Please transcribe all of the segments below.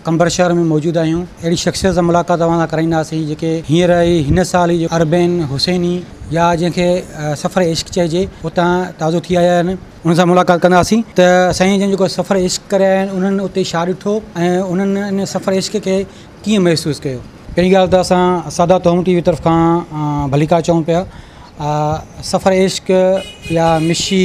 قمبر شهر ۾ موجود آهيون اهڙي شخصيت سان ملاقات اوهان سان ڪرائينداسين جيڪي هينئر ئي هن سال ئي اربين حسيني يا جنهن کي سفر عشق چئجي اتان تازو ٿي آيا آهن انهن سان ملاقات ڪنداسين ته سائين جن جيڪو سفر عشق ڪري آيا آهن انهن اتي ڇا ڏٺو ۽ انهن ان سفر عشق کي ڪيئن محسوس ڪيو. پهرين ڳالهه ته اسان سادات هوم ٽي وي طرف کان ڀليڪار چئون پيا سفر عشق يا مشي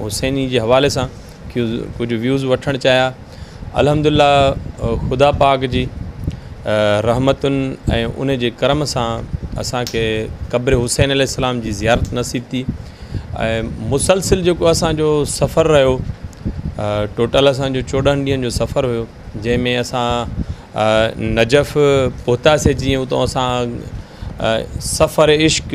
حسيني جي حوالي سان ڪجهه ويوز وٺڻ چاهيا الحمد لله خدا پاڪ جي رحمتن ۽ ان جي ڪرم سان اسانکي قبر حسين عليه السلام جي زيارت نصيب ٿي ۽ مسلسل جيڪو اسانجو سفر رهيو ٽوٽل اسانجو چوڏهن ڏينهن جو سفر هيو جنهن ۾ اسان نجف پهتاسي جيئن اتو اسان سفر عشق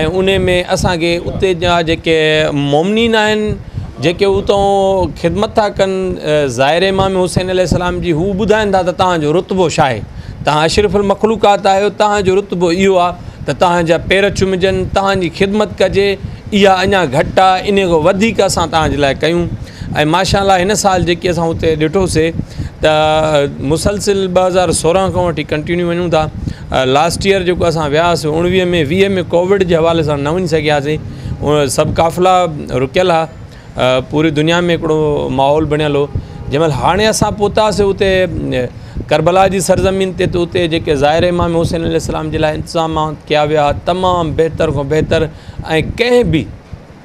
۽ انهي ۾ اسان کي اتي جا جيڪي مؤمنين آهن جيڪي اتون خدمت ٿا ڪن ظاهر امام حسين عليه السلام جي هو ٻڌائن ٿا ته تهان جو رتبو ڇا آهي تهان اشرف المخلوقات آهيو تهان جو رتبو اهو آهي ته تهان جا پير چمجن تهان جي خدمت ڪجي اها اڃا گهٽ آهي انهي کان وڌيڪ اسان تهان جي لاء ڪيون ۽ ماشاء الله هن سال جيڪي اسان اتي ڏٺوسي ته مسلسل ٻه هزار سورهن کان وٺي ڪنٽينيو وڃون ٿا لاسٽ ييئر جيڪو اسان ويا هئاسي اوڻويهه ۾ ويهه ۾ ڪووڊ جي حوالي سان نه وڃي سگهياسي سڀ قافلا رڪيل هئا پوري دنيا ۾ هڪڙو ماحول بڻيل هو جنهن مهل هاڻي اسان پهتاسي اتي ڪربلا جي سرزمين تي ته اتي جيڪي ظاهر امام حسين عليه السلام جي لاء انتظامات ڪيا ويا تمام بهتر کان بهتر ۽ ڪنهن به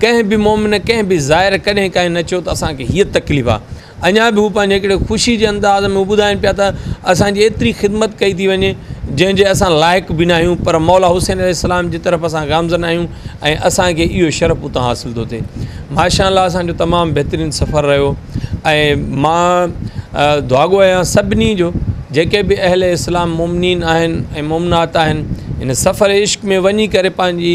ڪنهن به مومن ڪنهن به زائر ڪڏهن ڪانهي نه چيو ته اسان کي هيء تڪليف آ. اڃا به هو پنهنجي هڪڙي خوشي جي انداز ۾ ٻڌائين پيا ته اسان جي ايتري خدمت ڪئي ٿي وڃي جنهن جي اسان لائق به ناهيون پر مولا حسين عليه السلام جي طرف اسان گامزن آهيون ۽ اسان کي اهو شرف اتان حاصل ٿو ٿئي. ماشاء الله اسان جو تمام بهترين سفر رهيو ۽ مان دعاگو آهيان سڀني جو جيڪي به اهل اسلام مومنين آهن ۽ مومنات آهن هن سفر عشق ۾ وڃي ڪري پنهنجي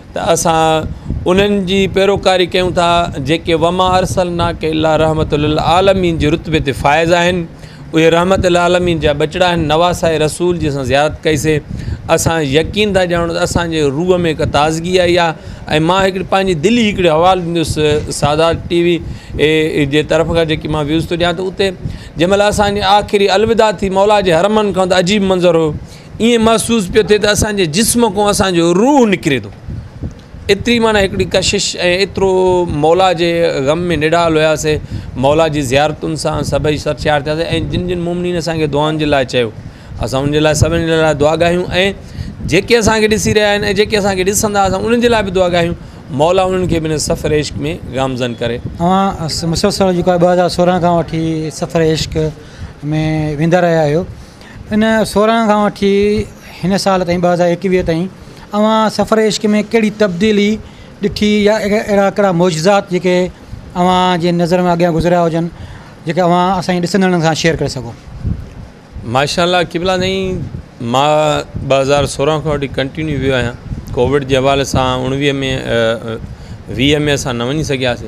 ته اسان انهن جي پيروڪاري ڪيون ٿا جيڪي وما ارسلناڪ الا رحمت للعالمين جي رتبي تي فائز آهن اهي رحمت للعالمين جا ٻچڙا آهن نواسائي رسول جي اسان زيارت ڪئي سي اسان يقين ٿا ڄاڻو ته اسانجي روح ۾ هڪ تازگي آئي آهي ۽ مان هڪڙي پنهنجي دلي هڪڙي حوال ڏيندس سادات ٽي وي جي طرف کان جيڪي مان ويوز ٿو ڏيان ته اتي جنهن مهل اسانجي آخري الوداع ٿي مولا جي حرمن کان ته عجيب منظر هو ائين محسوس پيو ٿئي ته اسان جي جسم کان اسان جو روح نڪري ٿو ايتري معنيٰ هڪڙي ڪشش ۽ ايترو مولا جي غم ۾ نڊال هياسي مولا جي زيارتن سان سڀئي سرشار ٿياسي ۽ جن جن مومنين اسان کي دعائن جي لاء چيو اسان ان جي لاء سڀني جي لاء دعا ڳايون ۽ جيڪي اسان کي ڏسي رهيا آهن ۽ جيڪي اسان کي ڏسندا اسان انهن جي لاء به دعا ڳايون مولا انهن کي به هن سفر عشق ۾ گامزن ڪري اوهان مسلسل جيڪو آهي ٻه هزار سورهن کان وٺي سفر عشق ۾ ويندا رهيا آهيو ان سورهن کان وٺي هن سال تائين ٻه هزار ايڪويهه تائين اوهان سفر عشق ۾ ڪهڙي تبديلي ڏٺي يا اهڙا ڪهڙا معجزات جيڪي اوهان جي نظر ۾ اڳيان گذريا هجن جيڪي اوهان اسان جي ڏسندڙن سان شيئر ڪري سگهو. ماشاء الله قبلا سائين مان ٻه هزار سورهن کان وٺي ڪنٽينيو ويو آهيان ڪووڊ جي حوالي سان اوڻويهه ۾ ويهه ۾ اسان نه وڃي سگهياسي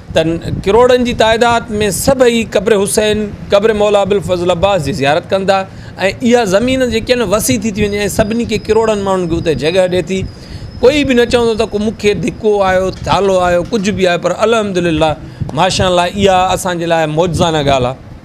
ته ڪروڙن جي تعداد ۾ سڀئي قبر حسين، قبر مولا ابوالفضل عباس جي زيارت ڪندا ۽ اها زمين جيڪي آهن وسيع ٿي ٿي وڃي ۽ سڀني کي ڪروڙن ماڻهن کي اتي جڳهه ڏئي ٿي ڪوئي به نه چوندو ته ڪو مونکي ڌڪو آيو ٿالهو آيو ڪجهه به آيو پر الحمد لله ماشاء الله اها اسانجي لاء معجزانه ڳالهه آهي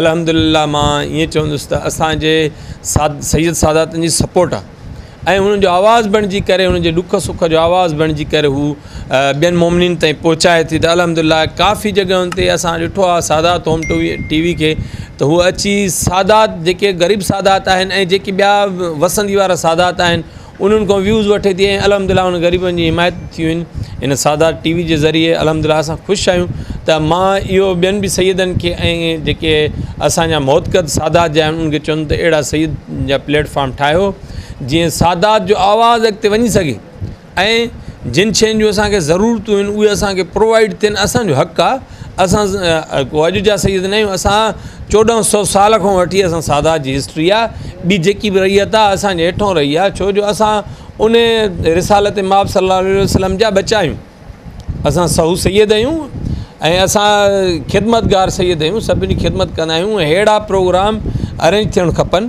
الحمدلله مان ائين چوندس ته اسانجي ساد سيد ساداتن جي سپورٽ آ ۽ انهن جو آواز بڻجي ڪري انهن جي ڏک سک جو آواز بڻجي ڪري هو ٻين مومنين تائين پهچائي ٿي ته الحمدلله ڪافي جڳهن تي اسان ڏٺو آ سادات هوم ٽو وي ٽي وي کي ته هو اچي سادات جيڪي غريب سادات آهن ۽ جيڪي ٻيا وسندي وارا سادات آهن انهن کان ويوز وٺي ٿي ۽ الحمدلله انهن غريبن جي حمايت به ٿي وين ان سادات ٽي وي جي ذريعي الحمدلله اسان خوش آهيون ته مان اهو ٻين به سيدن کي ۽ جيڪي اسان جا محتقد سادات جا آهن ان کي چوندم ته اهڙا سيد جا پليٽ فارم ٺاهيو جيئن سادات جو آواز اڳتي وڃي سگهي ۽ جن شين جون اسان کي ضرورتون آهن اهي اسان کي پرووائيڊ ٿين اسان جو حق آهي اسان ڪو اڄ جا سيد ناهيون اسان چوڏهن سو سال کان وٺي اسان سادات جي هسٽري آ ٻي جيڪي به رهي اتا اسان جي هيٺون رهي آ ڇو جو اسان ان رسالت ماب صلي الله عليه وسلم جا ٻچا آهيون اسان سهو سيد آهيون ۽ اسان خدمتگار سيد آهيون سڀني خدمت ڪندا آهيون ههڙا پروگرام ارينج ٿيڻ کپن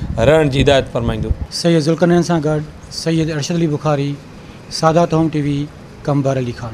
رهڻ جي هدايت فرمائيندو. سيد ذوالقرنين سان گڏ سيد ارشد علي بخاري، سادات هوم ٽي وي، ڪم بهر علي خان.